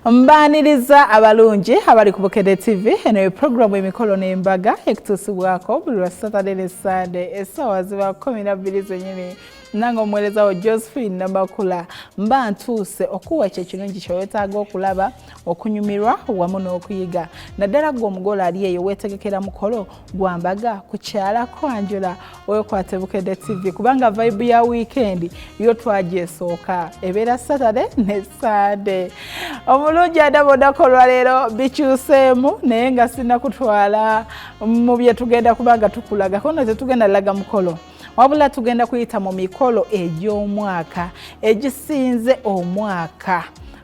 mbaaniriza abalungi abali ku bukedde tv eno ye pulogulaamu emikolo n'embaga ekutuusibwako buli lwa saturday ne sunday essaawa ziba kumi na bbiri zenyini nange omuweereza wo josephine namakula mba ntuuse okuwa ekyo ekirungi kyewetaaga okulaba okunyumirwa wamu n'okuyiga naddala gwe omugole ali eyo weetegekera mukolo gwambaga kukyala kwanjula wekwate bukedde tv kubanga vibe ya wiikendi yo twagyesooka ebeera saturday ne sande omulungi adabodako olwaleero bikyuseemu naye nga sina kutwala mu byetugenda kubanga tukulagako no tetugenda laga mukolo wabula tugenda kuyita mu mikolo egy'omwaka egisinze omwaka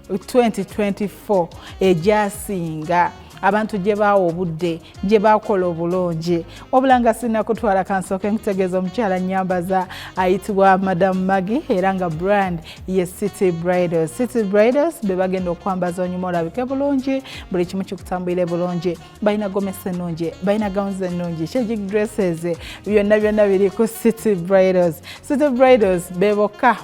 2024 egyasinga abantu gye baawa obudde gye baakola obulungi wabula nga sirina kutwala kansooke nkutegeeza omukyala nyambaza ayitibwa madamu magi era nga brand ye city bridals city bridals be bagenda okwambaza onyuma olabike bulungi buli kimu kikutambulire bulungi balina gomesi ennungi balina gowns ennungi chaging dresses byonna byonna biri ku city bridals city bridals be bokka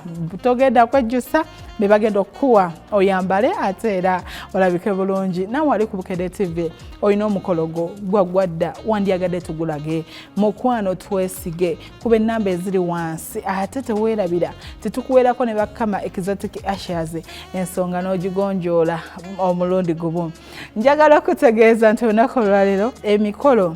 togenda kwejjusa be bagenda okukuwa oyambale ate era olabike bulungi nawe ali ku bukede tv olina omukolo gwo gwaggwa dda wandyagadde tugulage mukwano twesige kuba ennamba eziri wansi ate teweerabira tetukuweerako ne bakama exotic ashers ensonga n'ogigonjoola omulundi gumu njagala okutegeeza nti olunaku olwaleero emikolo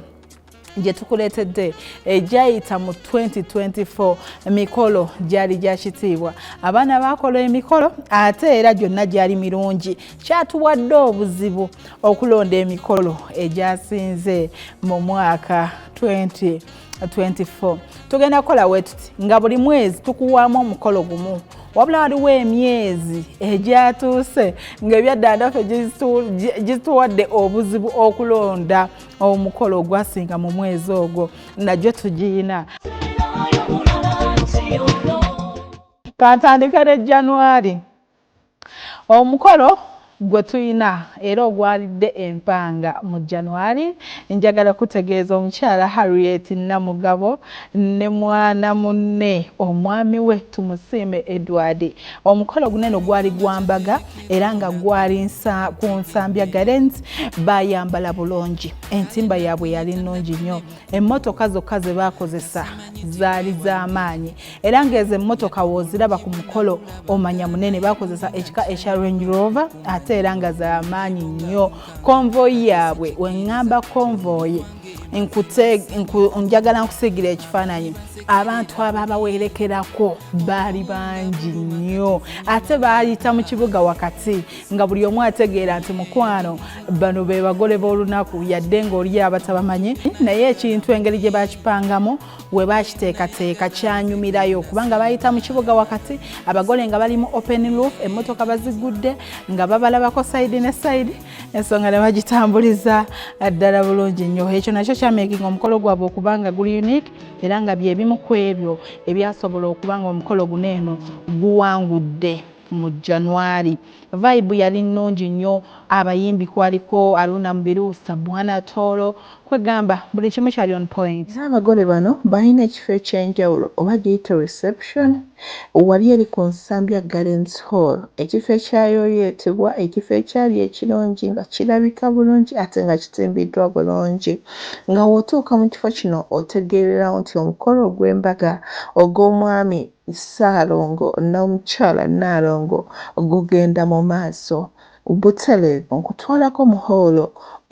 gye tukuleetedde egyayita mu 2024 mikolo gyali gya kitiibwa abaana baakola emikolo ate era gyonna gyali mirungi kyatuwadde obuzibu okulonda emikolo egyasinze mu mwaka 2024 tugenda kukola wetuti nga buli mwezi tukuwaamu omukolo gumu wabula waliwo emyezi egyatuuse ng'ebyaddanda ffe gizituwadde obuzibu okulonda omukolo ogwasinga mu mwezi ogwo nagyo tugiyina kantandika ne januari omukolo gwe tulina era ogwalidde empanga mu januari njagala kutegeeza omukyala harriet namugabo ne mwana munne omwami we tumusiime edward omukolo guneno gwali gwambaga era nga gwali ku nsambya garens bayambala bulungi entimba yaabwe yali nnungi nnyo emmotoka zokka ze baakozesa zaali z'amaanyi era ng'ezo emmotoka wooziraba ku mukolo omanya munene baakozesa ekika ekya range rover ate era nga z'amaanyi nnyo konvoyi yaabwe weŋŋamba konvoyi njagala nkusigira ekifaananyi abantu ababawerekerako baali bangi nnyo ate baayita mu kibuga wakati nga buli omu ategeera nti mukwano bano be bagole b'olunaku yadde ng'oli abatabamanyi naye ekintu engeri gye bakipangamu we bakiteekateeka kyanyumirayo kubanga baayita mu kibuga wakati abagole nga bali mu open loop emmotoka bazigudde nga babalabako sayidi ne sayidi ensonga ne bagitambuliza ddala bulungi nnyo ekyo nakyo kyamekinga omukolo gwabwe okuba nga guli unique era nga byebimu ku ebyo ebyasobola okuba nga omukolo guno eno guwangudde mu january vibe yali nnungi nnyo abayimbi kwaliko aruna mubiru sabuana toro Kwegamba buli kimu kyali on point. Naye abagole bano balina ekifo ekyenjawulo oba giyite reception wali eri ku Nsambya Gardens Hall ekifo ekyayooyootebwa ekifo ekyali ekirungi nga kirabika bulungi ate nga kitimbiddwa bulungi nga w'otuuka mu kifo kino otegeererawo nti omukolo ogw'embaga ogw'omwami Ssaalongo n'omukyala Nnaalongo gugenda mu maaso Butereevu nkutwalako mu hoolo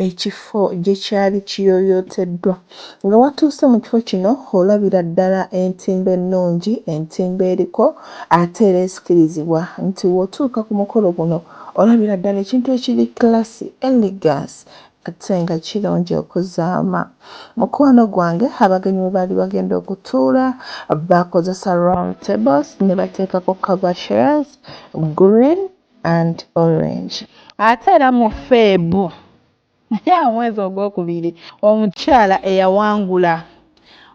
ekifo gye kyali kiyooyooteddwa. Nga watuuse mu kifo kino olabira ddala entimbe ennungi, entimbe eriko ate era ezikirizibwa nti w'otuuka ku mukolo guno olabira ddala ekintu ekiri classy, elegance ate nga kirungi okuzaama. Mukwano gwange abagenyi we baali bagenda okutuula baakozesa round tables ne bateekako cover chairs, green, and orange. Ate era mu Feb, omwezi ogwokubiri, omukyala eyawangula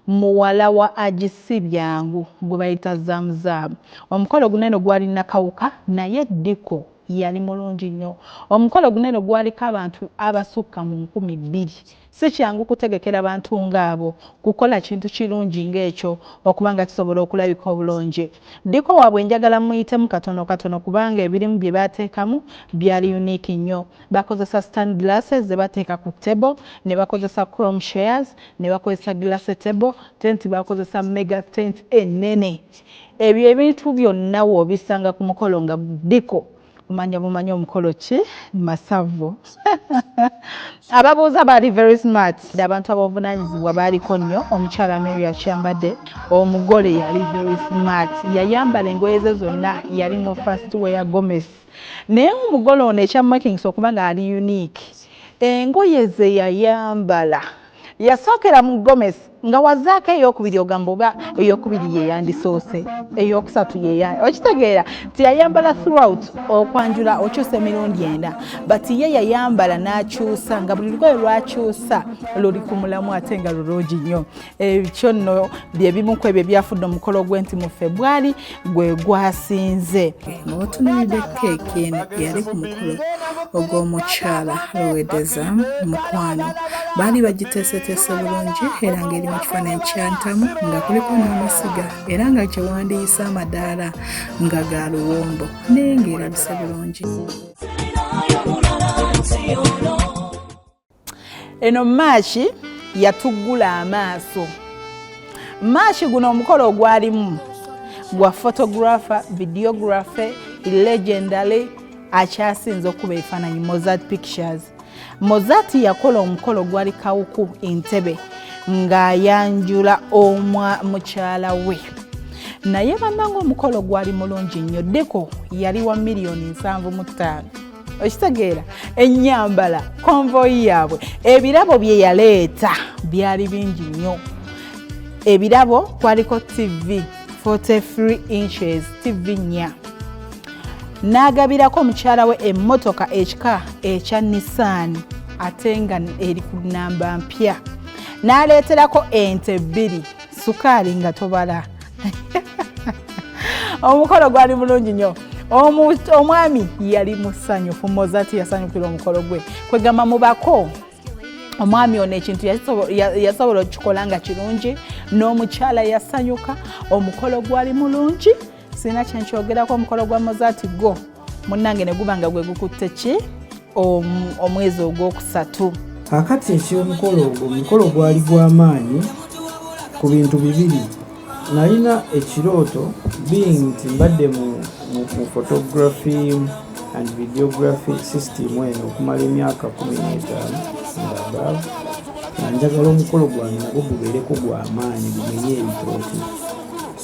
muwala wa Haji Ssibyangu gwe bayita Zam Zam. Omukolo guno eno gwali Nakawuka naye Diko yali mulungi nnyo. Omukolo guno eno gwaliko abantu abasukka mu nkumi bbiri. Si kyangu kutegekera bantu ng'abo kukola kintu kirungi ng'ekyo okuba nga kisobola okulabika obulungi. Ddiiko waabwe njagala mmuyitemu katonokatono kubanga ebirimu bye baateekamu byali unique nnyo. Bakozesa stand glasses ze bateeka ku table, ne bakozesa chrome chairs, ne bakozesa glass table, tent baakozesa mega tent ennene. Ebyo ebintu byonna w'obisanga ku mukolo nga ddiiko. Kumanya bumanyi omukolo ki masavu ababuuza baali very smart abantu abovunanyizibwa baaliko nnyo omukyala mary akyambadde omugole yali very smart yayambala engoye ze zonna yali mu first wear gomes naye omugole ono ekyamakings okuba nga ali unique engoye ze yayambala yasookera mu gomes nga wazaako eyokubiri ogamba oba eyokubiri yeyandisoose eyokusatu yeya okitegeera tiyayambala throughout okwanjula okyusa emirundi enda but ye yayambala n'akyusa nga buli lugoye lwakyusa luli ku mulamu ate nga lulungi nnyo ekyo nno byebimu ku ebyo ebyafudde omukolo gwenti mu febwali gwe gwasinze otunuulidde keeki eno yali ku mukolo ogw'omukyala lowedeza mukwano baali bagiteeseteese bulungi era ng'eri mu kifaananyi kyantamu nga kuliko n'amasiga era nga kyewandiyise amadaala nga ga luwombo naye ng'erabise bulungi eno maaki yatuggula amaaso maaki guno omukolo ogwalimu gwa photographer videography legendary akyasinze okuba ebifaananyi mozart pictures mozart yakola omukolo gwali kawuku entebe ng'ayanjula omwa mukyala we naye bannanga omukolo gwali mulungi nnyo deko yali wa miliyoni nsanvu mu ttaano okitegeera ennyambala konvoyi yaabwe ebirabo bye yaleeta byali bingi nnyo ebirabo kwaliko tv 43 inches tv nnya n'agabirako mukyala we emmotoka ekika ekya nissaani ate nga eri ku nnamba mpya n'aleeterako ente bbiri sukaali nga tobala omukolo gwali mulungi nnyo omwami yali musanyufu mozati yasanyukira omukolo gwe kwegamba mubako omwami ono ekintu yasobola okukikola nga kirungi n'omukyala yasanyuka omukolo gwali mulungi sirina kyenkyogerako omukolo gwa mozati gwo munnange ne guba nga gwe gukutte ki omwezi ogwokusatu kakati ekyomukolo ogwo omukolo gwali gw'amaanyi ku bintu bibiri nalina ekirooto being nti mbadde mu photography and videography system eno okumala emyaka kumi n'etaano ngaabaavu nga njagala omukolo gwange nagwo gubeereko gw'amaanyi gumenye ebitooti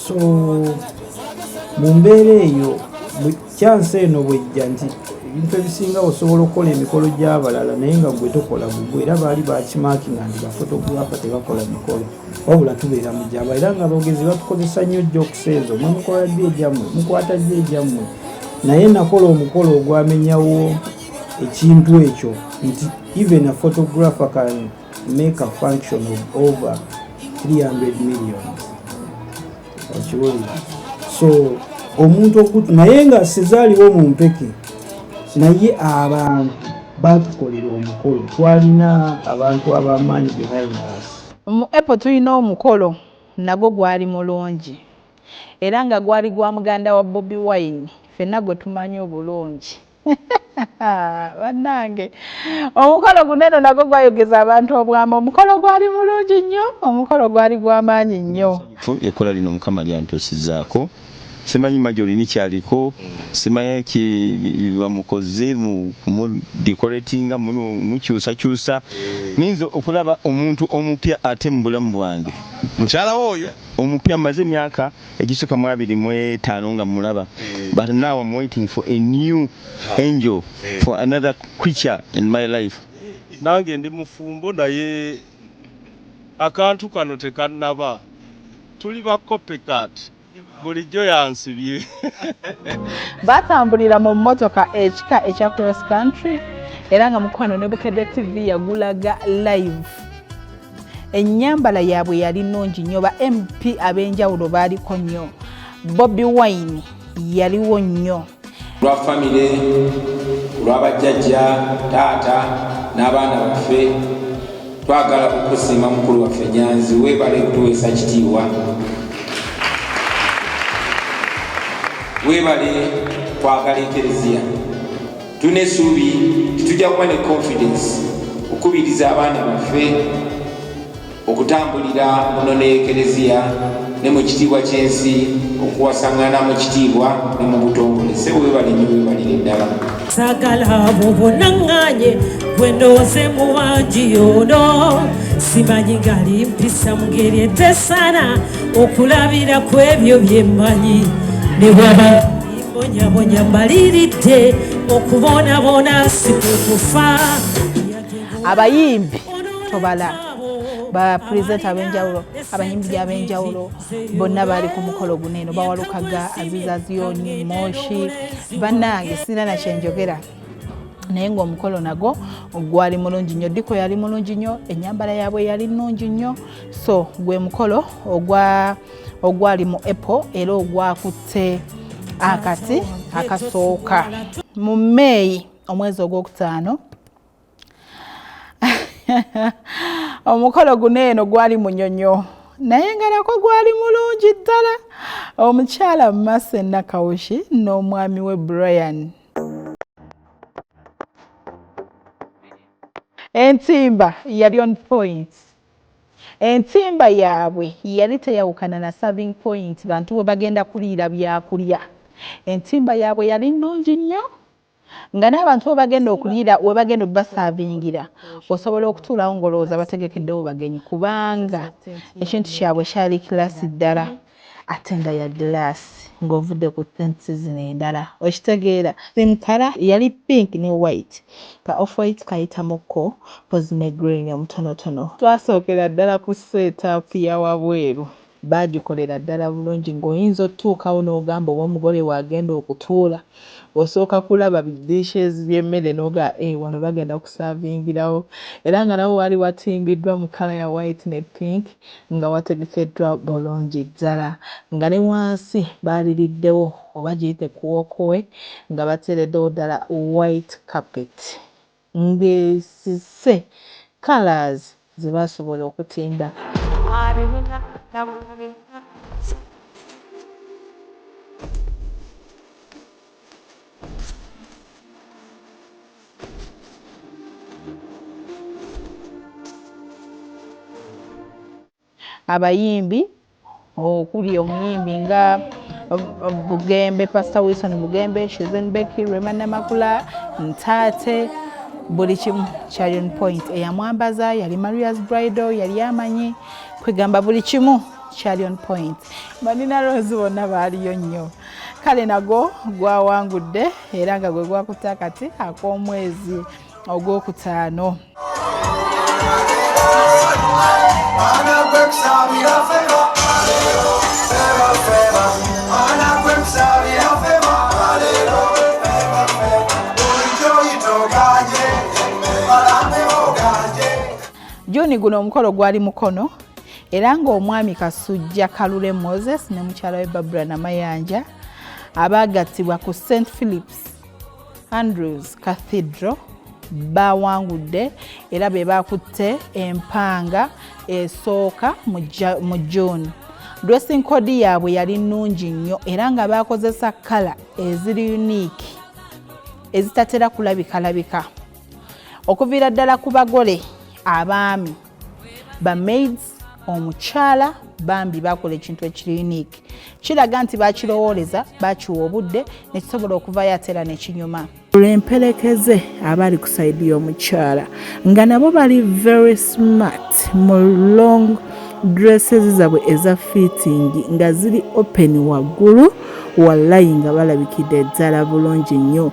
so mu mbeera eyo kyansi eno bwejja nti ebintu ebisinga osobola okukola emikolo gy'abalala naye nga gwe tokola gugwe era baali bakimaki nga ndi bafotografa tebakola mikolo wabula tubeera mu gyaba era nga abogezi batukozesa nnyo jokisi ezo mwe mukola ddi egyammwe mukwata ddi egyammwe naye nakola omukolo ogwamenyawo ekintu ekyo nti even a photographer can make a function of over 300 million okiwulira so omuntu okutu naye nga sizaaliwo mu mpeke naye abantu batukolera omukolo twalina abantu abamaanyi behind us mu apple tulina omukolo nagwo gwali mulungi era nga gwali gwa muganda wa bobi wine fenna gwe tumanyi obulungi bannange omukolo guno eno nagwo gwayogeza abantu obwama omukolo gwali mulungi nnyo omukolo gwali gwamaanyi nnyo ekkola lino mukama lyantuusizaako simanyi majolini kyaliko simanyi kibamukoze mudicoratinga mukyusakyusa ninza okulaba omuntu omupya ate mubulamu bwange mukyalawo oyo omupya maze emyaka Egisuka mu abiri mu etaano nga mulaba but now am waiting for a new angel for another creature in my life. Nange ndi mufumbo naye akantu kano tekanaba tuli ba copy cat bulijjo yansibye. Baatambulira mu mmotoka ekika ekya Cross Country era nga mukwano ne Bukedde TV yagulaga live. ennyambala yaabwe yali nnungi nnyo ba mp ab'enjawulo baaliko nnyo bobi wine yaliwo nnyo lwa famire olwabajjajja taata n'abaana baffe twagala kukusiima mukulu waffe nyanzi weebale kutuweesa kitiibwa weebale kwagala ekereziya Tulina essuubi nti tujja kuba ne confidence okukubiriza abaana baffe okutambulira muno ne ekereziya ne mu kitiibwa ky'ensi okuwasangana mu kitiibwa ne mu butongole sebo webalinyo webalire ddala sagala bubunanganye bwendowoze mu wangi yono simanyi gali mpisa mu ngeri etesana okulabira ku ebyo byemmanyi ne bwaba bonyabonya mbaliridde okubonabona sikukufa abayimbi tobala bapurezenta abenjawulo abayimbi abenjawulo bonna baali ku mukolo guno eno bawalukaga aziza ziyoni moshi bannange sirina nakyenjogera naye ngaomukolo nago gwali mulungi nnyo diko yali mulungi nnyo enyambala yaabwe yali nnungi nnyo so gwe mukolo ogwa ogwali mu apple era ogwakutte akati akasooka mu may omwezi ogwokutaano omukolo guno eno gwali munyonyo naye nga nako gwali mulungi ddala omukyala mase nakawushi n'omwami we brian entimba yali on point Entimba yaabwe yali teyawukana na serving point bantu we bagenda kuliira byakulya. Entimba yaabwe yali nnungi nnyo nga n'abantu we bagenda okuliira we bagenda okubasavingira osobola okutuulawo ng'olowooza bategekeddewo bagenyi kubanga ekintu kyabwe kyali kiraasi ddala. Ate nga ya glass nga ovudde ku tints zino endala okitegeera. Theme colour yali pink ne white ka off white kayitamukko coz ne green omutonotono. Twasookera ddala ku set up ya wabweru baagikolera ddala bulungi ng'oyinza otuukawo n'ogamba oba omugole w'agenda okutuula. osooka kulaba bi dishes by'emmere n'ogamba eeh wano bagenda kusaavingirawo era nga nawo waali watimbiddwa mu kkala ya white ne pink nga wategekeddwa bulungi ddala nga ne wansi baaliriddewo oba giyite kkuwookowe nga bateereddewo ddala white carpet. ng'esise colours ze baasobola okutimba. Abayimbi okuli omuyimbi nga Bugembe, Pastor Wilson Bugembe, Shizen Becky, Rema Namakula, Ntate buli kimu kyali on point. Eyamwambaza yali Maria's Bridal, yali amanyi kwegamba buli kimu kyali on point. Banina Rose bonna baaliyo nnyo. Kale nagwo gwawangudde era nga gwe gwakutte akati ak'omwezi ogwokutaano. juni guno omukolo gwali mukono era ng'omwami kasujja kalule moses ne mukyala we babura namayanja abaagattibwa ku st philips Andrews Cathedral baawangudde era be baakutte empanga esooka mu June. Dressing code yaabwe yali nnungi nnyo era nga baakozesa kkala eziri unique ezitatera kulabikalabika okuviira ddala ku bagole abaami ba maids omukyala bambi bakola ekintu ekiri unique kiraga nti bakirowooleza bakiwa obudde nekisobola okuvayo atera nekinyuma lwemperekeze abali ku saidi y'omukyala nga nabo bali very smart mu long dresses zabwe eza fitting nga ziri open waggulu wallayi nga balabikidde ddala bulungi nnyo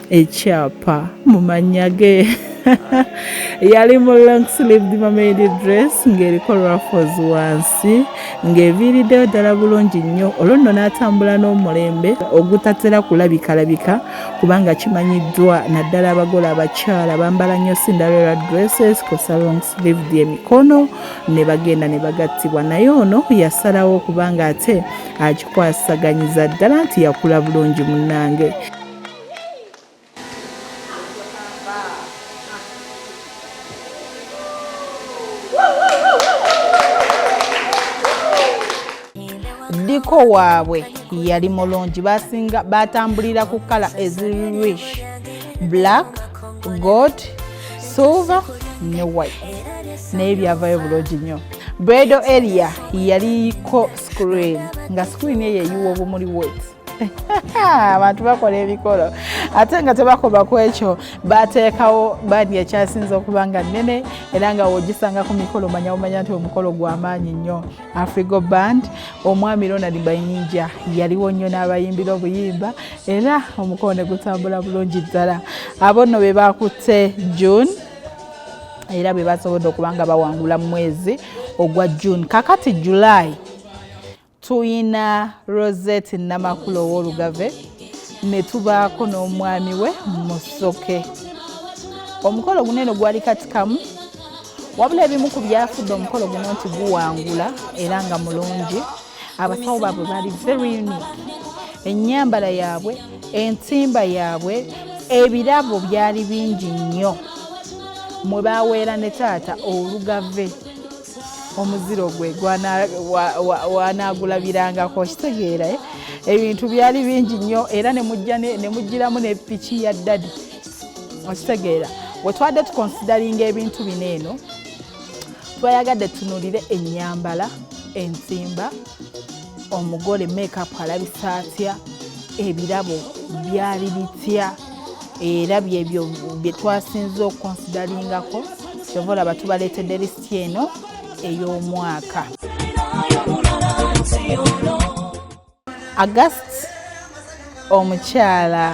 ekyapa mu mannya ge yali mu long sleeved mamedi dress ng'eriko raffles wansi ng'eviiriddeyo ddala bulungi nnyo olwo nno n'atambula n'omulembe ogutatera kulabikalabika kubanga kimanyiddwa naddala abagole abakyala bambala nnyo cinderella dresses kosa long sleeved emikono ne bagenda ne bagattibwa naye ono yasalawo kubanga ate akikwasaganyiza ddala nti yakula bulungi munnange ddiko waabwe yali mulungi basinga batambulira ku kala ezirish black gold silver ne white naye byavayo bulungi nnyo bredo area yaliko screen nga screen eyo eyiwa obumuli wet abantu bakola ebikolo ate nga tebakoba ku ekyo bateekawo bandi ekyasinze okuba nga nnene era nga wogisanga ku mikolo manya omanya nti omukolo gwamaanyi nnyo afrigo band omwami ronald bayinja yaliwo nnyo n'abayimbira obuyimba era omukolo ne gutambula bulungi ddala abo nno be bakutte june era be basobodde okuba nga bawangula mu mwezi ogwa june kakati july tuyina rosette namakula ow'olugave ne tubaako n'omwami we musoke omukolo guno eno gwali katikamu wabula ebimu ku byafudde omukolo guno nti guwangula era nga mulungi abasawo baabwe bali very unique ennyambala yaabwe entimba yaabwe ebirabo byali bingi nnyo mwe baweera ne taata olugave omuziro gwe wanaagulabirangako kitegeera eh? ebintu byali bingi nnyo era nemujjiramu ne piki ya ddadi okitegeera wetwadde tukonsidaringa ebintu bino eno twayagadde tunulire enyambala ensimba omugole makeup alabisa atya ebirabo byali bitya era byebyo bye twasinze okukonsidaringako kyova olaba tubaleetedde lisiti eno ey'omwaka agast omukyala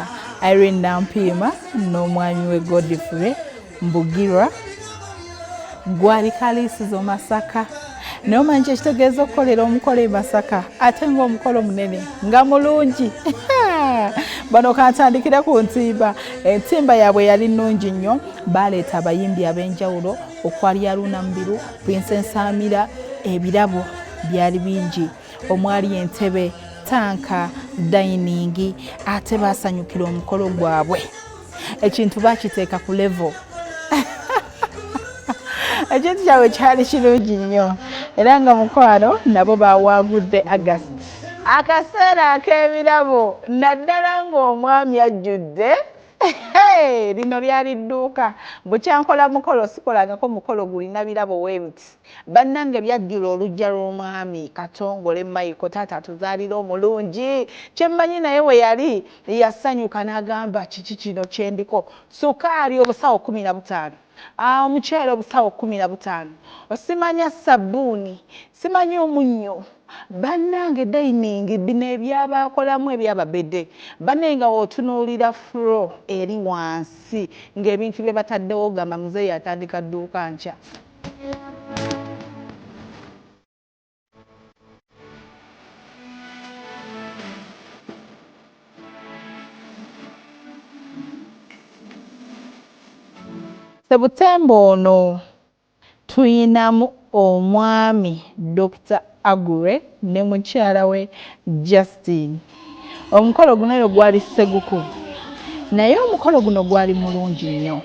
irene nampiima n'omwami we godfrey mbugirwa gwanika liisi zomasaka naye omanyi kyekitegeeza okukolera omukolo e masaka ate ngaomukolo munene nga mulungi bano kantandikire ku ntimba entimba yaabwe yali nnungi nnyo baleeta abayimbi ab'enjawulo okwali aruuna mubiru prince nsamira ebirabo byali bingi omwali entebe tanka dayiningi ate baasanyukira omukolo gwabwe ekintu bakiteeka ku levo ekintu kyabwe kyali kirungi nnyo era nga mukwano nabo bawangudde agast akaseera ak'ebirabo naddala ng'omwami ajjudde lino lyali dduuka bukyankola mukolo sikolangako mukolo gulina birabo webiti Banange byajjula olujja lwomwami katongole Michael taata atuzalira omulungi kyemmanyi naye weyali yasanyuka nagamba kiki kino kyendiko sukaali obusawo kumi nabutaano aah omuceere obusawo kumi nabutaano simanya sabuuni simanya omunnyo banange dining bino ebyabakolamu ebyababede bane nga wotunulira fro eri wansi ngebintu byebataddewo ogamba muzeeyi atandika dduuka nkya. Sebutemba ono tuyinamu omwami Dokita Aggrey ne mukyala we Justine. Omukolo guno yo gwali Seguku naye omukolo guno gwali mulungi nnyo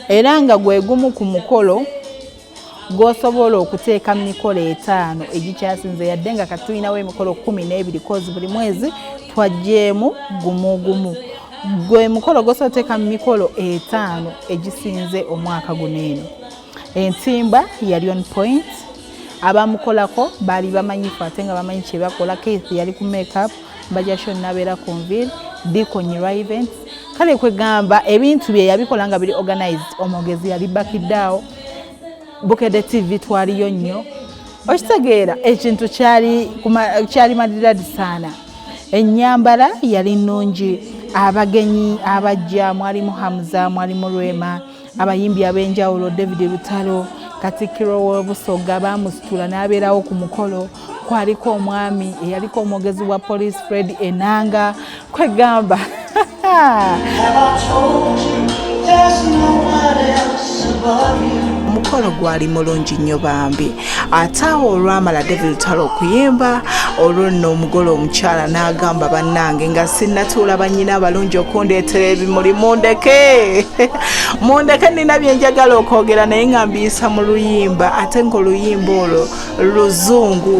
era nga gwe gumu ku mukolo gw'osobola okuteeka mu mikolo etaano egikyasinze yadde nga kati tulinawo emikolo kkumi n'ebiri kozi buli mwezi twajjeemu gumu gumu gwe mukolo gw'osobola oteeka mu mikolo etaano egisinze omwaka guno eno entimba yali on point abamukolako baali bamanyifu ate nga bamanyi kyebakola keith yali ku makeup bajasho nabeera ku nvir dikonyirwa events kale kwegamba ebintu bye yabikola nga biri organized omwogezi yali bakiddaawo bukede tv twaliyo nnyo okitegeera ekintu kyali madiradi saana enyambala yali nnungi abagenyi abajja mwalimu hamza mwalimu rwema Abayimbi ab'enjawulo David Lutalo Katikkiro w'Obusoga baamusitula n'abeerawo ku mukolo kwaliko omwami eyaliko omwogezi wa poliisi Fred Enanga kwegamba omukolo gwali mulungi nnyo bambi ate awo olwamala david lutalo okuyimba olwo nno omugole omukyala n'agamba bannange nga sinnatuula bannyina abalungi okundeetera ebimuli mundeke mundeke nina byenjagala okwogera naye nga mbiyisa mu luyimba ate ng'oluyimba olwo luzungu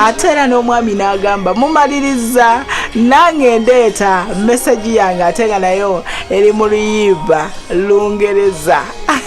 ate era n'omwami n'agamba mumaliriza nange ndeeta mesagi yange ate nga nayo eri mu luyiiba lungereza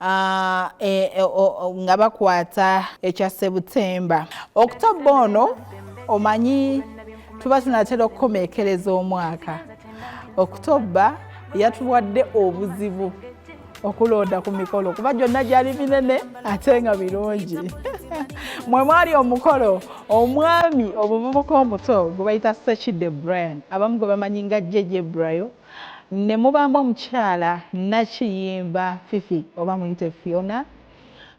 ah, e, e, nga bakwata ekya sebutemba okutobba ono omanyi tuba tunatera okukomekereza omwaka okutobba yatuwadde obuzibu okulonda ku mikolo kuba gyonna gyali minene ate nga birungi mwe mwali omukolo omwami omuvubuka omuto gwe bayita sekide brian abamu gwe bamanyi nga jeje brayo ne mubaamu omukyala nnakiyimba Fifi oba muyite Phiona.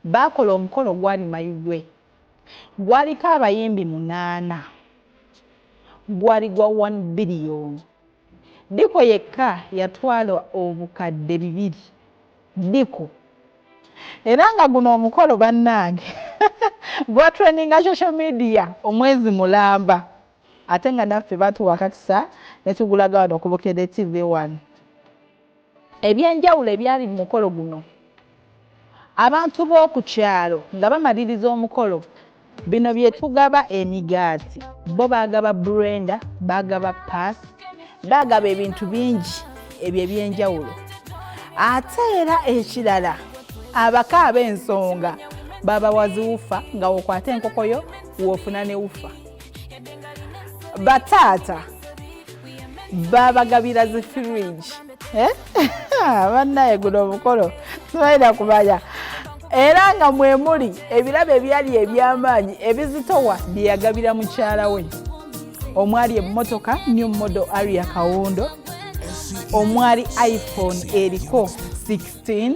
Baakola omukolo gwali Mayigwe. Gwaliko abayimbi munaana. Gwali gwa one billion. Diko yekka yatwala obukadde bibiri. Diko. Era nga guno omukolo bannange gwatrendinga social media omwezi mulamba. Ate nga naffe batuwa kakisa netugulaga wano ku Bukedde TV one. Ebyenjawulo ebyali mu mukolo guno. Abantu b'oku kyalo nga bamaliriza omukolo. Bino byetugaba emigaati, bo baagaba brenda, baagaba pass, baagaba ebintu bingi ebyo ebyenjawulo. Ate era ekirala abako ab'ensonga babawa zi wufa nga wokwata enkoko yo wofuna ne wufa. bataata babagabira zi fridge eh? bannaye guno omukolo sibalina kumanya era nga mwemuli ebirabo ebyali ebyamaanyi ebizitowa byeyagabira mukyala we omwali emmotoka new model aria kawundo omwali iphone eriko 16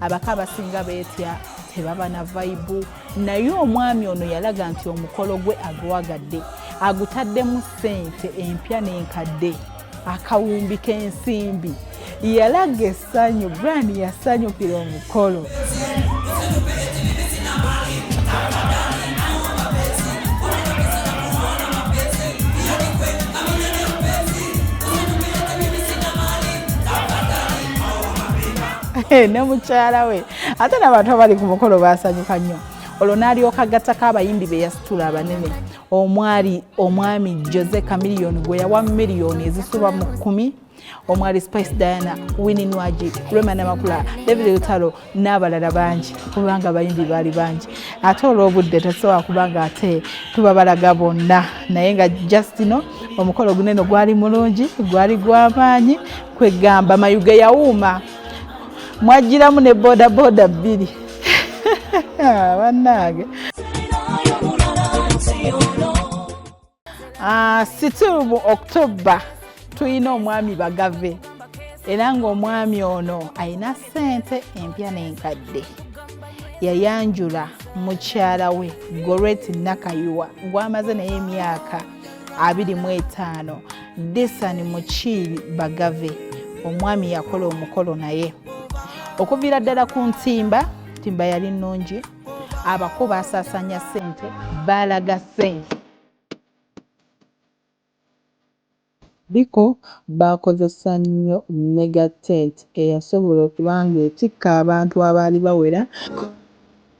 abako abasinga beetya tebaba na vayibu naye omwami ono yalaga nti omukolo gwe agwagadde agutaddemu ssente empya n'enkadde akawumbi k'ensimbi yalaga essanyu brian yasanyukira omukolo ne mukyala we ate nabantu abali ku mukolo basanyuka nnyo olwo n'alyoka gattako abayimbi be yasitula abanene omwali omwami jose camiliyoni gwe yawa miliyoni ezisuba mu kkumi omwali spice diana wini nwagi rema namakula david lutalo n'abalala bangi kubanga abayimbi baali bangi ate olw'obudde tasobola kubanga ate tuba balaga bonna naye nga justino omukolo guneno gwali mulungi gwali gw'amaanyi kwegamba mayuge yawuuma mwajjiramu ne bodaboda bbiri ah, bannange ah, situlu mu october tulina omwami bagave era ng'omwami ono alina ssente empya n'enkadde yayanjula mukyala we goreti nakayiwa gwamaze naye emyaka abiri mu etaano disani mukiibi bagave omwami yakola omukolo naye okuviira ddala ku ntimba ntimba yali nnungi abako baasaasaanya ssente baalaga ssente Biko baakozesa nnyo mega tent eyasobola okuba ng'etikka abantu abaali bawera.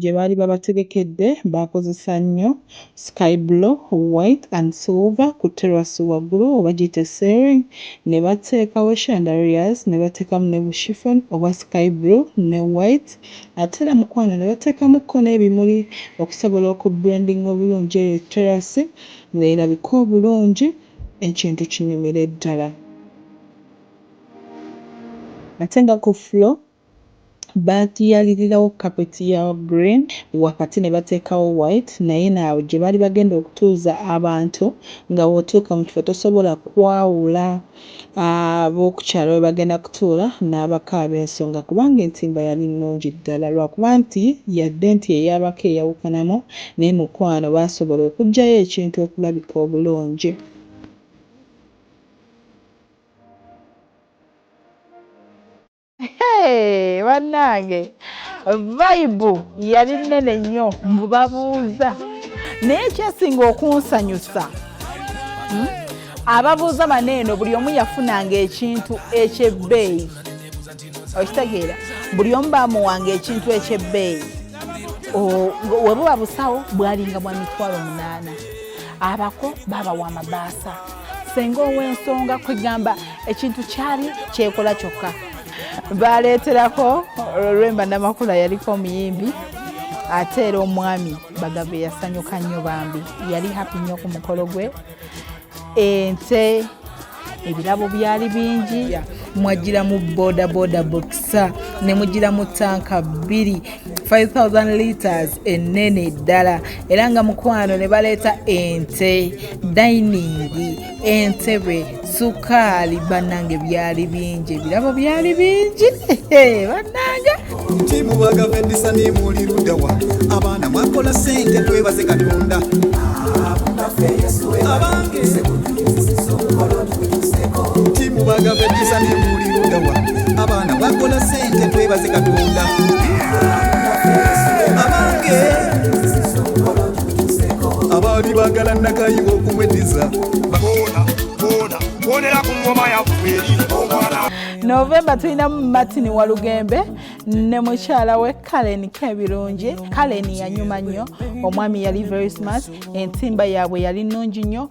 gye baali babategekedde baakozesa nnyo sky blue, white and silver ku terrace waggulu oba giyite ceiling ne bateekawo chandeliers ne bateekamu ne bu chiffon oba sky blue ne white Ate era mukwano ne bateekamu ko n'ebimuli okusobola oku blendinga obulungi eyo terrace nga erabike obulungi ekintu kinyumire ddala. Ate nga ku floor baatuyalirirawo carpet ya green wakati ne bateekawo white naye eno awo gye baali bagenda okutuuza abantu nga bw'otuuka mu kifo tosobola kwawula. ab'okukyalo we bagenda kutuula n'abaka ab'ensonga kubanga entimba yali nnungi ddala lwakuba nti yadde nti ey'abaka eyawukanamu naye mukwano baasobola okuggyayo ekintu okulabika obulungi. Hey, banange vibe yali nene nnyo mbu babuuza naye kyesinga okunsanyusa hmm? ababuuza bano eno buli omu yafunanga ekintu ekyebbeeyi okitegeera buli omu bamuwanga ekintu ekyebbeeyi webuba busawo bwalinga bwa mitwalo munaana abako babawa amabaasa senga ow'ensonga kwegamba ekintu kyali kyekola kyokka baleeterako lwemba namakula yaliko omuyimbi ate era omwami bagave yasanyuka nnyo bambi yali happy nnyo ku mukolo gwe ente ebirabo byali bingi mwajjiramu bodaboda bokisa ne mujjiramu tanka bbiri 5000 liters enene ddala era nga mukwano ne baleeta ente dayiningi entebe sukaali bannange byali bingi ebirabo byali bingi bannange timubagavendisanimulirudawa abaana mwakola sente twebaze katonda abange timu bagava eddisa nemuulirudawa abaana bakola sente twebaze katonda abange abaali bagala nakayiwa okumweddiza bonera ku ngoma yaffe novemba tulinamu martin walugembe ne mukyala we kalen kebirungi kalen yanyuma nnyo omwami yali very smart entimba yaabwe yali nnungi nnyo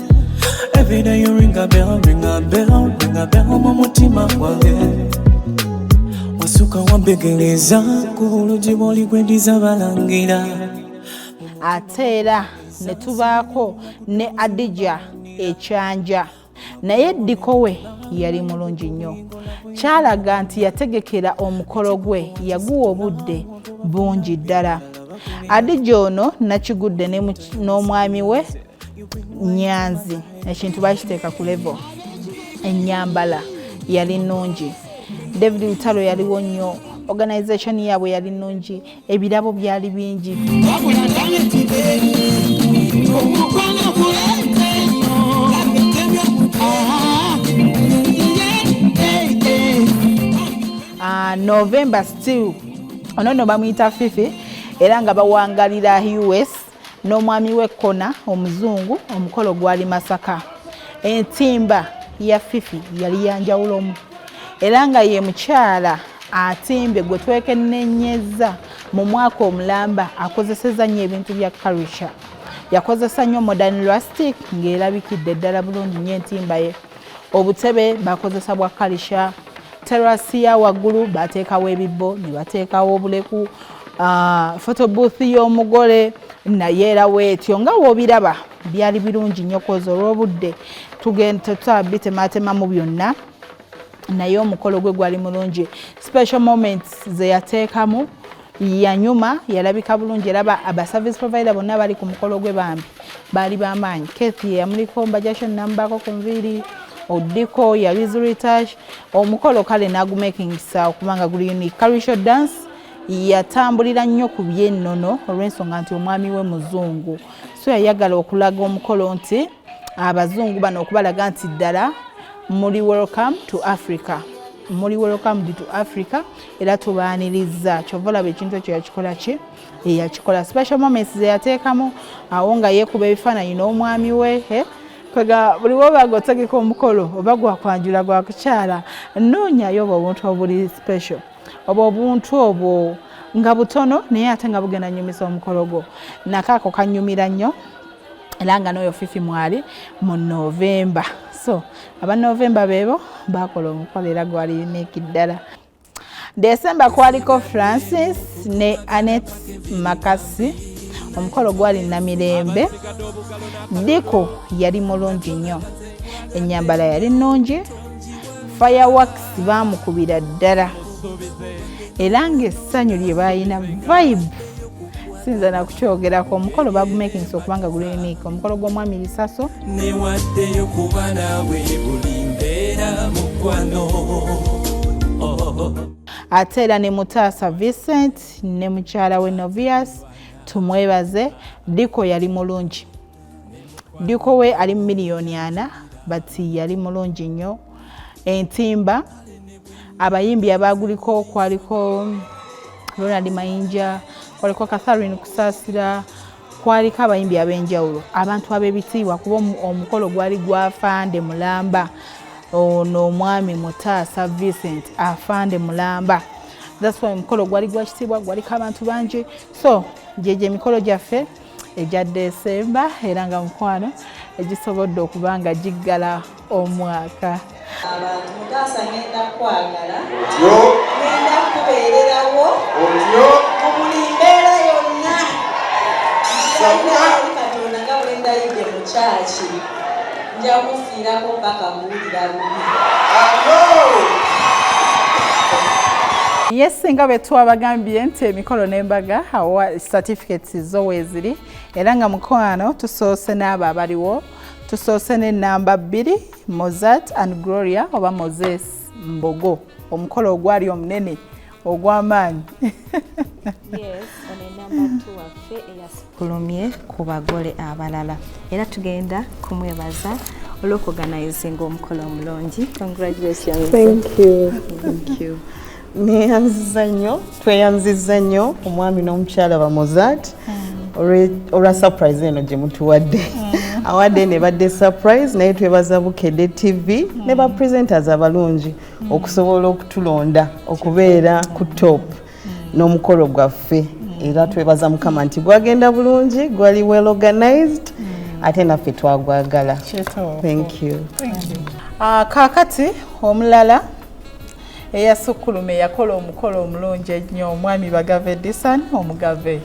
Every day you ring a bell, ring a bell, ring a bell mu mutima gwange wasuka wambegereza ku bulugi bw'oligwendiza balangira ate era ne tubaako ne adija ekyanja naye ddikowe yali mulungi nnyo kyalaga nti yategekera omukolo gwe yaguwa obudde bungi ddala adija ono nakigudde n'omwami we nyanzi ekintu bakiteeka ku levo enyambala yali nungi david lutalo yaliwo nnyo organization yaabwe yali nungi ebirabo byali bingi ah, november still ono no bamuyita fifi era nga bawangalira us n'omwami we Kona omuzungu omukolo gwali Masaka. Entimba ya Fifi yali yanjawulomu era nga ye mukyala atimbe gwe twekennenyezza mu mwaka omulamba akozeseza nnyo ebintu bya karisha yakozesa nnyo modern lastic ng'erabikidde ddala bulungi nnyo entimba ye obutebe bakozesa bwa karisha terasi ya waggulu bateekawo ebibbo ne bateekawo obuleku Ah, photo booth y'omugole naye era weetyo nga w'obiraba byali birungi nnyo koza olw'obudde tugenda tetutaba bitemaatemamu byonna naye omukolo gwe gwali mulungi special moments ze yateekamu yanyuma yalabika bulungi era abaservice provider bonna bali ku mukolo gwe bambi baali bamaanyi kethi yeyamuliko mbajasho nambaako ku nviiri odiko yalizuritash omukolo kale nagumakingisa okubanga guli unique karisho dance yatambulira nnyo ku byennono olw'ensonga nti omwami we muzungu so yayagala okulaga omukolo nti abazungu bano okubalaga nti ddala muli welcome to africa muli welcome to africa era tubaaniriza kyova olaba ekintu ekyo yakikola ki eyakikola special moments zeyateekamu awo nga yeekuba ebifaananyi n'omwami we eh? kwega buli woba gotegeka omukolo oba gwakwanjula gwakukyala noonyayo oba obuntu obuli special oba obuntu obwo nga butono naye ate nga bugenda nyumisa omukolo gwo nakaako kanyumira nnyo era nga n'oyo fifi mwali mu novemba so aba novemba beebo bakola omukolo era gwali uniiki ddala desemba kwaliko francis ne anet makasi omukolo gwali namirembe diko yali mulungi nnyo enyambala yali nnungi fireworks baamukubira ddala era ng'essanyu lye baalina vibe sinza nakukyogerako omukolo bagumakingisa okuba nga gulemiika omukolo gw'omwami lisaso newaddeyo kuba naawe buli mbeera mukwano ate era ne mutaasa vincent ne mukyala we novias tumwebaze diko yali mulungi diko we ali mu miliyoni ana but yali mulungi nnyo entimba abayimbi abaaguliko kwaliko ronald mayinja kwaliko catharine kusaasira kwaliko abayimbi ab'enjawulo abantu ab'ebitiibwa kuba omukolo gwali gwafande mulamba ono omwami mutaasa vincent afande mulamba that's why omukolo gwali gwakitiibwa gwaliko abantu bangi so gyegyo emikolo gyaffe egya desemba era nga mukwano egisobodde okuba nga giggala omwaka abantu mutaasa ngenda kwagala otyo ngenda kubeererawo otyo mu buli mbeera yonna katonda nga bwendayidde mu kyaki nja kufiirako mpaka kuwulira bubi yes nga bwe twabagambye nti emikolo n'embaga awa certificates zo weeziri era nga mukwano tusoose n'abo abaliwo tusoose n'ennamba bbiri mozart and gloria oba moses mbogo omukolo ogwali omunene ogw'amaanyi kulumye ku bagole abalala era tugenda kumwebaza olw'okuganizinga omukolo omulungi neyanziza nnyo tweyanziza nnyo omwami n'omukyala bamozat mm. olwa surprise eno gye mutuwadde mm. awadde ne badde surprise naye twebaza bukede tv ne ba mm. presenters abalungi mm. okusobola okutulonda okubeera ku top mm. n'omukolo gwaffe mm. era twebaza mukama nti gwagenda bulungi gwali well organized mm. ate naffe twagwagala thank you, thank you. Uh, kakati omulala eyasukkulume yakola omukolo omulungi ennyo omwami bagave disan omugave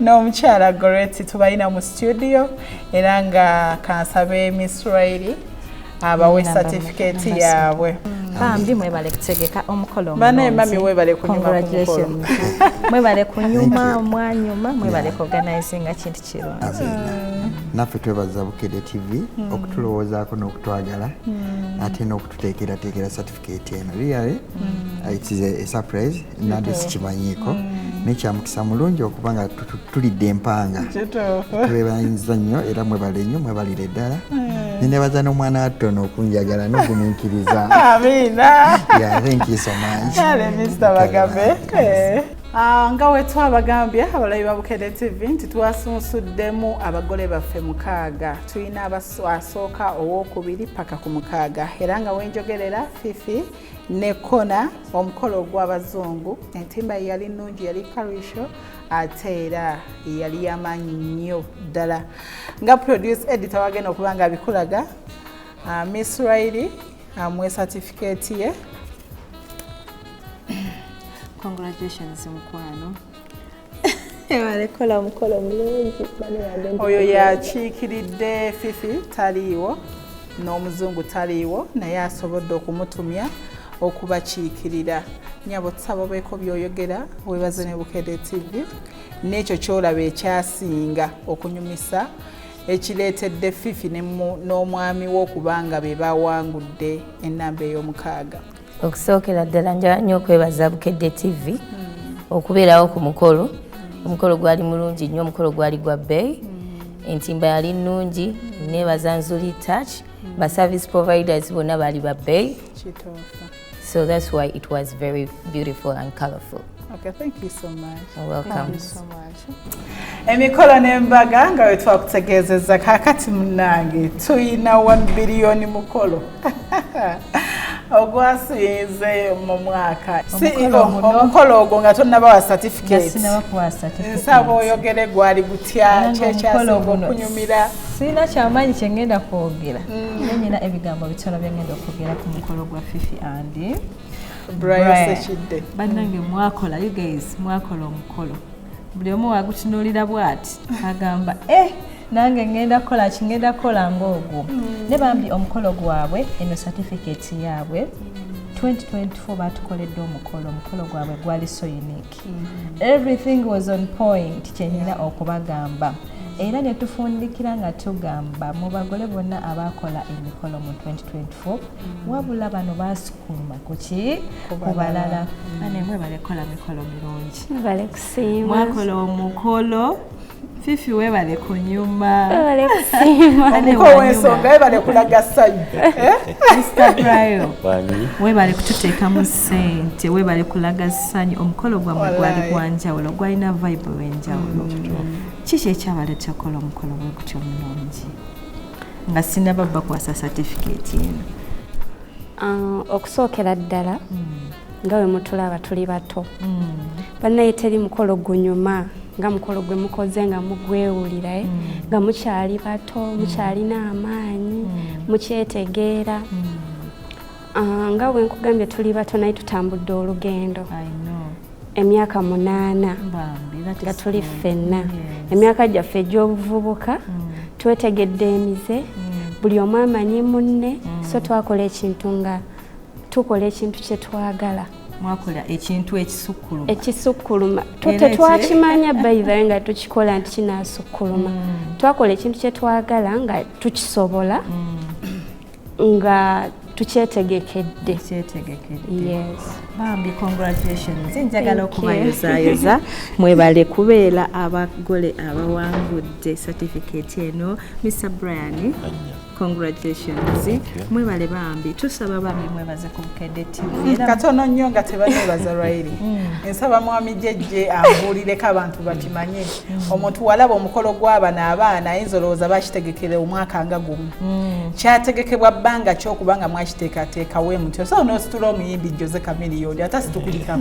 n'omukyala goreti tubalina mu studio era nga kansabe misraeli abawe certificate yaabwe bambi mwebale kutegeka omukolo banaye mami webale kunyumamwebale kunyuma mwanyuma mwebale kuorganizinga kintu kirungi mm. naffe twebaza bukede tv mm. okutulowoozaako n'okutwagala mm. ate n'okututeekerateekera keti eno really mm. uh, it is a, a surprise nade sikimanyiiko mm. naye kyamukisa mulungi okuba nga tulidde empanga twebayinza nnyo era mwebale nnyo mwebalire ddala mm. nenebaza n'omwana wattono okunjagala nogumiikiriza ah, nga wetwabagambye abalabi ba bukede tv nti twasunsudde mu abagole baffe mukaaga tulina asooka owokubiri paka ku mukaaga era nga wenjogerera fifi ne kona omukolo ogw'abazungu entimba ye yali nnungi yali karisho ate era yali yamaanyi nnyo ddala nga produce edita wagenda okuba nga abikulaga ah, miss rairi amuwe ah, satifikeeti ye congratulations mukwano alekola omukolo mulungi oyo yakiikiridde fifi taliiwo n'omuzungu taliiwo naye asobodde okumutumya okubakiikirira nyabo tusaba obeeko byoyogera webaze ne bukede tv n'ekyo kyolaba ekyasinga okunyumisa ekireetedde fifi n'omwami we okuba nga be bawangudde enamba ey'omukaaga okusookera ddala njala nnyo okwebaza bukedde tv okubeerawo ku mukolo omukolo gwali mulungi nnyo omukolo gwali gwa bbeeyi entimba yali nnungi nebaza nzuli touch ba service providers bonna baali ba bbeeyi so that's why it was very beautiful and colorful okay, thank you so much. You're welcome. Thank you so much. emikolo n'embaga nga bwe twakutegeezezza kaakati munnange tulina 1 biliyoni mukolo ogwasinze mu mwaka omukolo ogwo nga tonabawa satifiketnsaba oyogere gwali gutya kyekyasinga okunyumira sirina kyamaanyi kyengenda kwogera mm. nenyina ebigambo bitono byengenda okwogera ku mukolo gwa fifi andi Brian Sekidde bannange mwakola you guys mwakola omukolo buli omu wagutunuulira bwati agamba eh nange ngenda kukola ki ngenda kukola ngaogwo mm. ne bambi omukolo gwabwe eno certificate yaabwe 2024 batukoledde omukolo omukolo gwabwe gwali so unique mm. everything was on point kyenina okubagamba era netufundikira nga tugamba mu bagole bonna abakola emikolo mu 2024 kifo wabula bano basukuma kuki kubalala mm. ane mwe balekola mikolo mirungi mwakola omukolo fifi webale kunyuma ensonga webale kulaga sanyu eh? mr bril webale kututeekamu sente webale kulaga sanyu omukolo gwamwe gwali gwanjawulo gwalina vibe wenjawulo mm. kiki ekyabaletekola omukolo gwegutyo mulungi nga sinaba bakwasa satifiketi eno ah, okusookera ddala hmm. nga we mutulaba tuli bato hmm. bannaye teri mukolo gunyuma nga mukolo gwe mukoze nga mugwewulira eh? hmm. nga mukyali bato mukyalina amaanyi mukyetegeera ah, nga wenkugambye tuli bato naye tutambudde olugendo emyaka munaana nga tuli ffenna emyaka gyaffe egy'obuvubuka mm. twetegedde emize mm. buli omu amanyi munne mm. so twakola ekintu nga tukola ekintu kye twagala mwakola ekintu ekisukkuluma ekisukkuluma tetwakimanya bayibale nga tukikola nti kinasukkuluma twakola ekintu kye twagala nga tukisobola nga tukyetegekedde bambi congratulations njagala okubayozaayoza mwebale kubeera abagole abawangudde certificate eno mr brian congratulations mwebale bambi tusaba bambi mwebaze ku bukedde tivkatono mm, nnyo nga tebanebaza lwairi mm. nsaba mwami jejje ambuulireko abantu bakimanye mm. omuntu walaba omukolo gw'abana abaana ayinza olowooza bakitegekere omwaka nga gumu Mm. kyategekebwa bbanga ki okuba nga mwakiteekateekawo emutyo so nositula omuyimbi jose kamiliyoni ata situkulika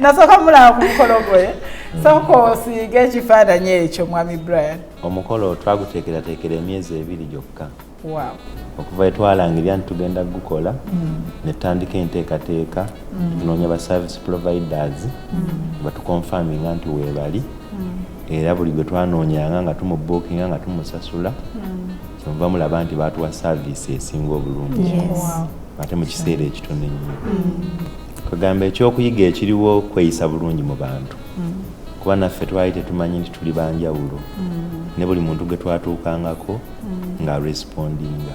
nasooka mulaba ku mukolo gwe mm. sooka osiige ekifaananyi ekyo mwami brian omukolo twaguteekerateekera emyezi ebiri gyokka okuva etwalangirya nti tugenda kugukola mm. netutandika enteekateeka tunoonya ba service providers batukonfaminga nti weebali era buli gwe twanoonyanga nga tumubuukinga nga tumusasula hmm. kyenva mulaba nti baatuwa saaviisi esinga obulungi ate mu kiseera ekitono ennyo kagamba hmm. ekyokuyiga ekiriwo kweyisa bulungi mu bantu hmm. kuba naffe twali tetumanyi nti tuli banjawulo ne buli muntu gwe twatuukangako nga respondinga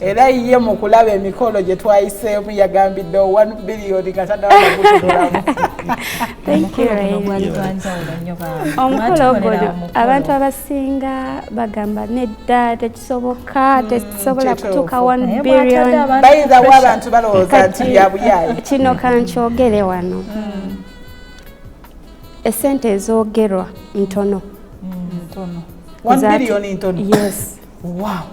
era ye mu kulaba emikolo gye twayiseemu yagambidde one biliyoni nga tanawagutuulamu omukolo ogwo abantu abasinga bagamba nedda tekisoboka hmm, tekisobola kutuuka one billion bayinza wa abantu balowooza nti byabuyayi kino kankyogere wano hmm. esente ezoogerwa ntono hmm, ntono yes wow.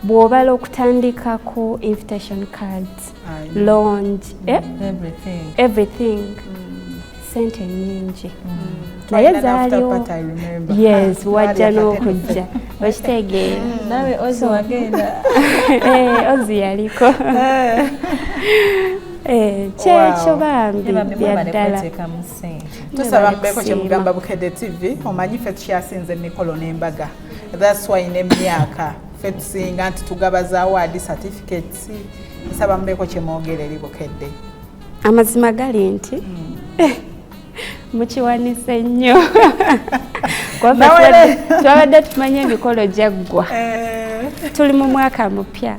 bw'obala okutandika ku invitation cards longe eh? everything, everything. Mm. sente nyingi mm. naye zaaliwo yes wajja n'okujja okitegeera mm. nawe ozi wagenda eh, ozi yaliko eh. Eh, kyekyo bambi byaddala tusaba mbeeko kyemugamba bukedde tv omanyi fe tukyasinze emikolo n'embaga That's why ne myaka fe tusinga nti tugaba za award certificates nsaba mubeko kye mwogera eri bukedde. Amazima gali nti mm. eh, mukiwanise nnyo twabadde tumanyi emikolo gyaggwa eh. tuli mu mwaka mupya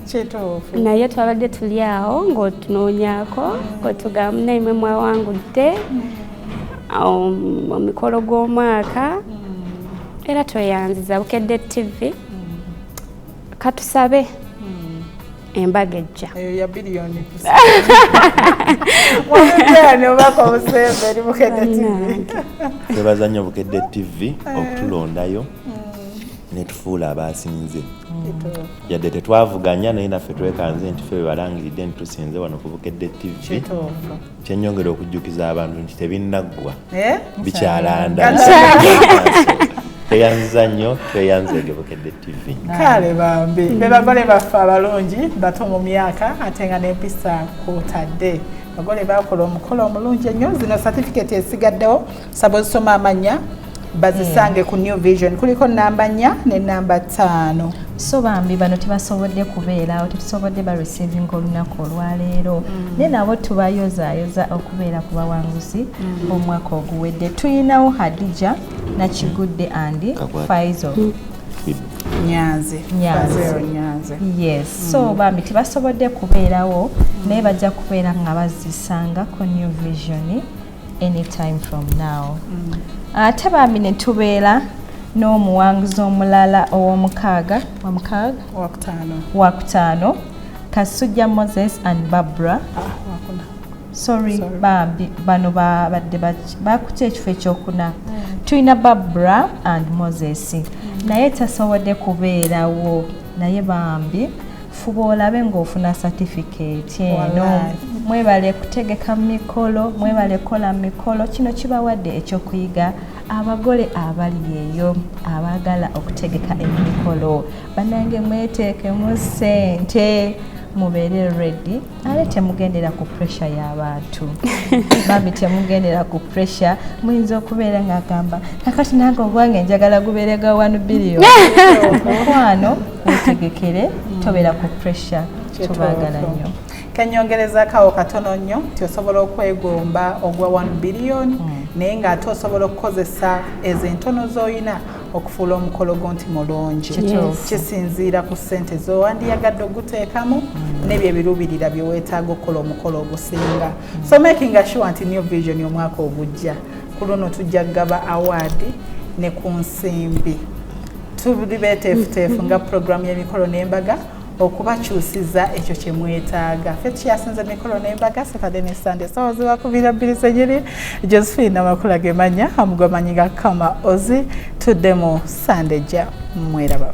naye twabadde tuli awo ng'otunoonyako ng'otugamba naimwe mwawangudde mm. um, omukolo gw'omwaka mm. era tweyanziza bukedde ttivi mm. katusabe mm. embaga ejja eyo ya biliyoni obaka obusembe eri bukedde ttivi twebaza nnyo bukedde ttivi eh. okutulondayo netufuula abaasinze yadde tetwavuganya naye naffe twekanze nti fe bebalangiridde nti tusinze wano kubukedde ttivi kyenyongera okujjukiza abantu nti tebinnaggwa eh? bikyalanda tweyanziza nnyo tweyanza egebukedde tv kale bambi mm. be bagole baffe abalungi bato mu myaka ate nga n'empisa kwotadde abagole bakola omukolo omulungi ennyo zino satifiketi esigaddewo saba osoma amanya bazisange ku new vision kuliko namba nnya ne namba ttaano so bambi bano tebasobodde kubeerawo tetusobodde ba receiving olunaku olwaleero mm. naye nabo tubayozayoza okubeera ku bawanguzi mm. omwaka oguwedde tuyinawo hadija nakigudde andi faizo mm. nyanzi nyanzi yes mm. so bambi tebasobodde kubeerawo mm. naye bajja kubeera nga bazisanga ku new vision mm. anytime from now mm. ate bambi ne tubeera n'omuwanguzi omulala ow'omukaaga wamukaaga wakutaano kasujja moses and barbara ah, sorry bambi bano babadde bakuta ekifo ekyokuna mm. tulina barbara and moses mm. naye tasobodde kubeerawo naye bambi fuba olabe ng'ofuna satifikeeti eno mwebale kutegeka mikolo mwebale kukola mikolo kino kibawadde ekyokuyiga abagole abali eyo abaagala okutegeka emikolo banange mweteekemu ssente mubeere redi ale temugendera ku pressure y'abantu bambi temugendera ku pressure muyinza okubeera ng'agamba kakati nange ogwange njagala gubeere ga wanu biriyo mukwano wetegekere tobeera ku pressure tubaagala nnyo kenyongerezakawo katono nnyo nti osobola okwegomba ogwa 1 billion mm. naye ng'ate osobola okukozesa ezo entono z'olina okufuula omukolo gwo nti mulungi kisinziira ku ssente zowandiyagadde oguteekamu mm. nebyo ebiruubirira byeweetaaga okukola omukolo ogusinga mm. so making assure nti new vision omwaka ogujja ku luno tujja kugaba awaadi ne ku nsimbi tuli beteefuteefu nga pulogulaamu y'emikolo n'embaga okubakyusiza ekyo kye mwetaaga ffe tukyasinze mikolo n'embaga saturday ne sunday sawa zibakubira bbiri zenyini josephine amakula gemanya amugwamanyi ga kama ozi tuddemu sunday ja mweraba